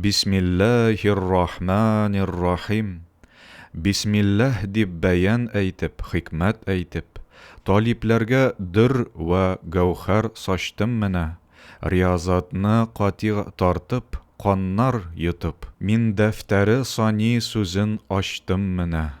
Бисмиллаһир-рахманир-рахим Бисмиллаһ дип бәян әйтеп, хикмәт әйтеп, талипләргә дөрр вә гәүһәр сачтым менә, риязатны катигъ тартып, каннар йотып, мин дәфтәре сани сүзен ачтым менә.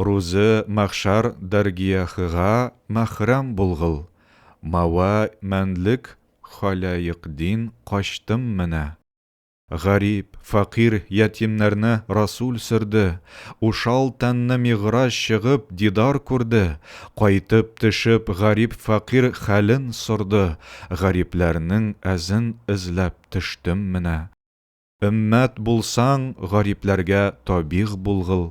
Рузы мәхшар дәргияхыга мәхрәм булгыл, Мауа мәнлек халәекдин качтым менә. Гарип, фәкыйрь ятимнәрне Расул сөрде, Ушал тәнне мигъраҗ чыгып дидар күрде, Кайтып тешеп гарип-фәкыйрь хәлен сорды, Гарипләрнең әзен эзләп төштем менә. Өммәт булсаң, гарипләргә табигъ булгыл.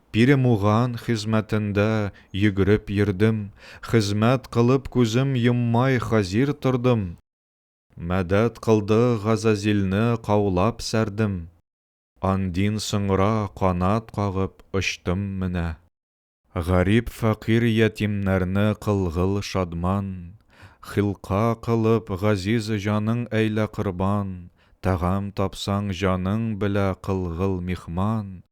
Перемуган хезмәтендә йөгереп йөрдем, Хезмәт кылып күзем йоммай хазир тордым, Мәдәт кылды Газазилне каулап сәрдем, Андин соңра канат кагып очтым менә. Гарип фәкыйрь ятимнәрне кылгыл шадман, Хилка кылып газиз җаның әйлә корбан, Тәгам тапсаң җаның белә кылгыл михман,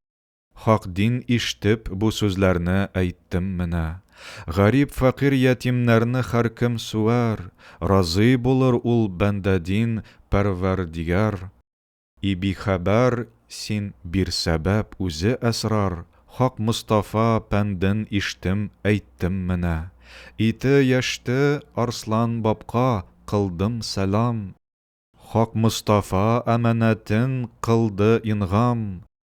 Хак дин иштеп бу сүзләрне әйттем менә. Гарип фәкыйрь ятимнәрне хәркем суәр, разый булыр ул бәндәдин пәрвәрдигар. И бихәбәр син бир сәбәп үзе әсрар, Хак Мостафа пәнден иштем әйттем менә. Ите яшьте Арслан бабка кылдым сәлам. Хак Мостафа әманәтен кылды ингам.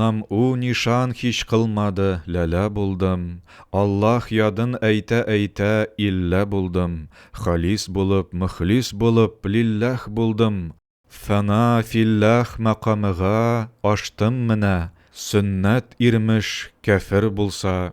Нам у нишан һич кылмады, ләлә булдым, Аллаһ ядын әйтә-әйтә, иллә булдым, Халис булып, мөхлис булып, лилләһ булдым, Фәна филләһ мәкамыга аштым менә, Сөннәт ирмеш, кяфер булса,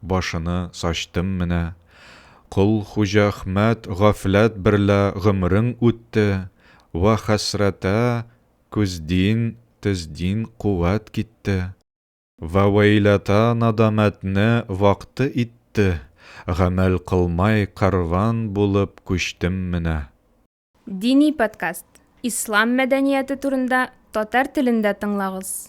Башыны сачтым менә. Кол Хуҗахмәт гафләт берлә гомерең үтте, вә хәсрәтә көздин, төздин куәт китте. Вә вәйләтә надамәтне вакты итте, гамәл кылмай кәрван булып күчтем менә. Дини подкаст. Ислам мәдәнияте турында татар телендә тыңлагыз.